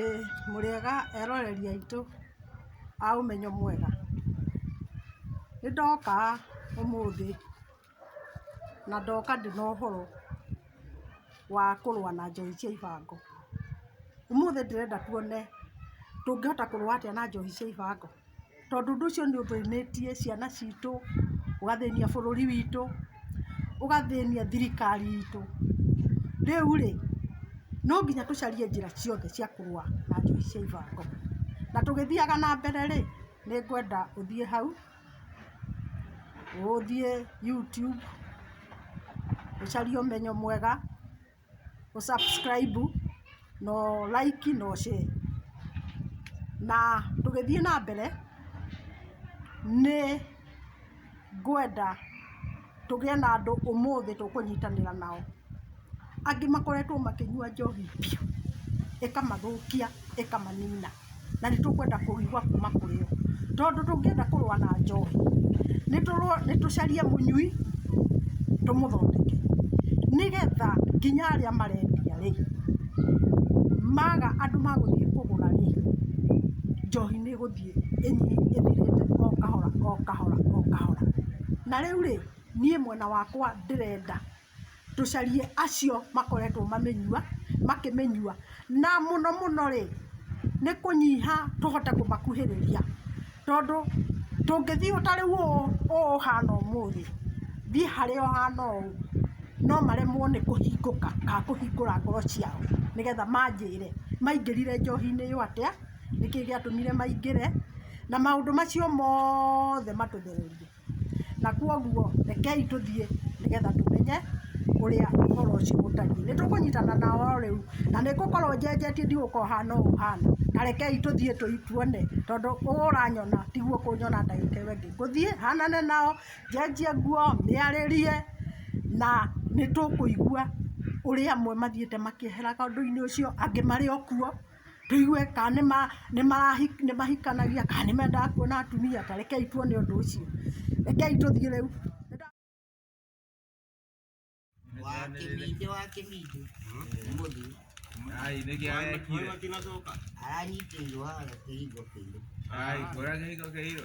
Ĩĩ, mũrĩega eroreri aitũ a ũmenyo mwega, nĩndoka ũmũthĩ na ndoka ndĩ na ũhoro wa kũrũa na njohi cia ibango. Ũmũthĩ ndĩrenda tuone tũngĩhota kũrũa atĩa na njohi cia ibango. tondũ ũndũ ũcio nĩ ũthĩnĩtie ciana citũ, ũgathĩnia bũrũri witũ, ũgathĩnia thirikari itũ. Rĩu rĩ, no nginya tũcarie njĩra ciothe cia kũrũa na njũi cia ibango. Na tũgĩthiaga na mbere rĩ, nĩ ngwenda ũthiĩ hau, ũthiĩ YouTube ũcarie ũmenyo mwega. gũ subscribe na ũ like na ũ share. Na tũgĩthiĩ na mbere, nĩ ngwenda tũgĩe na andũ ũmũthĩ tũkũnyitanĩra nao. Angĩ makoretwo makĩnyua njohi biũ, ĩkamathũkia, ĩkamanina. na nĩ tũkwenda kũigua kuma kũrĩ o tondũ tũngĩenda kũrũa na njohi nĩ tũrũ- nĩ tũcarie mũnyui tũmũthondeke nĩgetha nginya arĩa marendia rĩ maga andũ magũthiĩ kũgũra rĩ njohi nĩ ĩgũthiĩ ĩnyi- ĩthirĩte o kahora o kahora o kahora na rĩu rĩ niĩ mwena wakwa ndĩrenda tũcarie acio makoretwo mamĩnyua makĩmĩnyua na mũno mũno rĩ nĩ kũnyiha tũhote kũmakuhĩrĩria tondũ tũngĩthiĩ ta rĩu ũũ ũhana ũmũthĩ thiĩ harĩa ũhana ũũ no maremwo nĩ kũhingũka kana kũhingũra ngoro ciao nĩgetha manjĩre maingĩrire njohi-inĩ ĩyo atĩa, nĩkĩĩ gĩatũmire maingĩre na maũndũ macio mothe matũthererie. Na kwoguo rekei tũthiĩ nĩgetha tũmenye ũrĩa ũhoro ũcio ũtariĩ. Nĩ tũkũnyitana na o rĩu, na nĩ ngũkorwo njenjetie ndigũkorwo hana ũũ hana, na rekei tũthiĩ tuone, tondũ ũũ ũranyona tiguo ũkũnyona ndagĩka ĩyo ĩngĩ. Ngũthiĩ hanane nao, njenjie nguo, mĩarĩrie, na nĩ tũkũigua ũrĩa amwe mathiĩte makĩeheraga ũndũ-inĩ ũcio, angĩ marĩ o kuo. tũigue kana nĩ ma nĩ marahi nĩ mahikanagia kana nĩ mendaga kuona atumia ta rekei tuone ũndũ ũcio rekei tũthiĩ rĩu wakĩminde wakĩminde mũthĩ Ai, nĩkĩ arekire? aranyitĩirwo haha kĩhingo kĩirũ Ai, kũrĩa kĩhingo kĩirũ.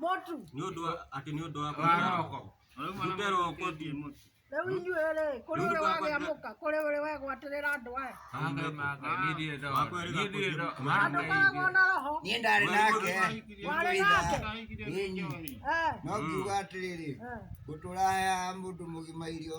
Mũtu. Nĩ ũndũ wa atĩ nĩ ũndũ wa kũroko. Ndute roko ti mũtu. Rĩu inyuĩ rĩ, kũrĩ ũrĩ wagĩa mũka, kũrĩ ũrĩ wegwatĩrĩra andũ aya. Ndũkoragwo na roho. Niĩ ndarĩ nake. Warĩ nake. Ĩĩ. No ngiuga atĩrĩrĩ, ngũtũra haya mũndũ mũgima irio.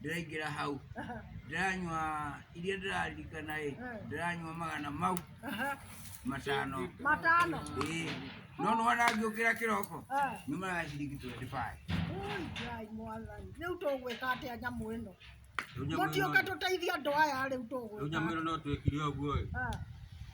ndĩraingĩra hau ndĩranyua iria ndĩraririkana ĩ ndĩranyua magana mau matano matano ĩĩ no nĩ wona ngĩũkĩra kĩroko nĩ maraga ciringi 25 Ui, Ngai mwathani rĩu tũgwĩka atĩa nyamũ ĩno Rĩu nyamũ ĩno- mũtiũke tũteithie andũ aya rĩu rĩu nyamũ tũgwĩka ĩno no twĩkire ũguo ĩ Ah.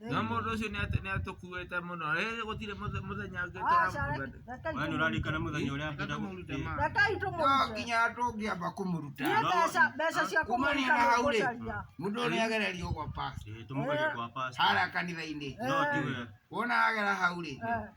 No mũndũ ũcio nĩatũkuĩte mũno gũtirĩ mũthenya ũngĩũraririkana mũthenya ũrĩa nginya tũngĩamba kũmũruta kumanina hau rĩ mũndũ ũrĩa agererio gwa harĩa kanitha-inĩ wona agera hau rĩ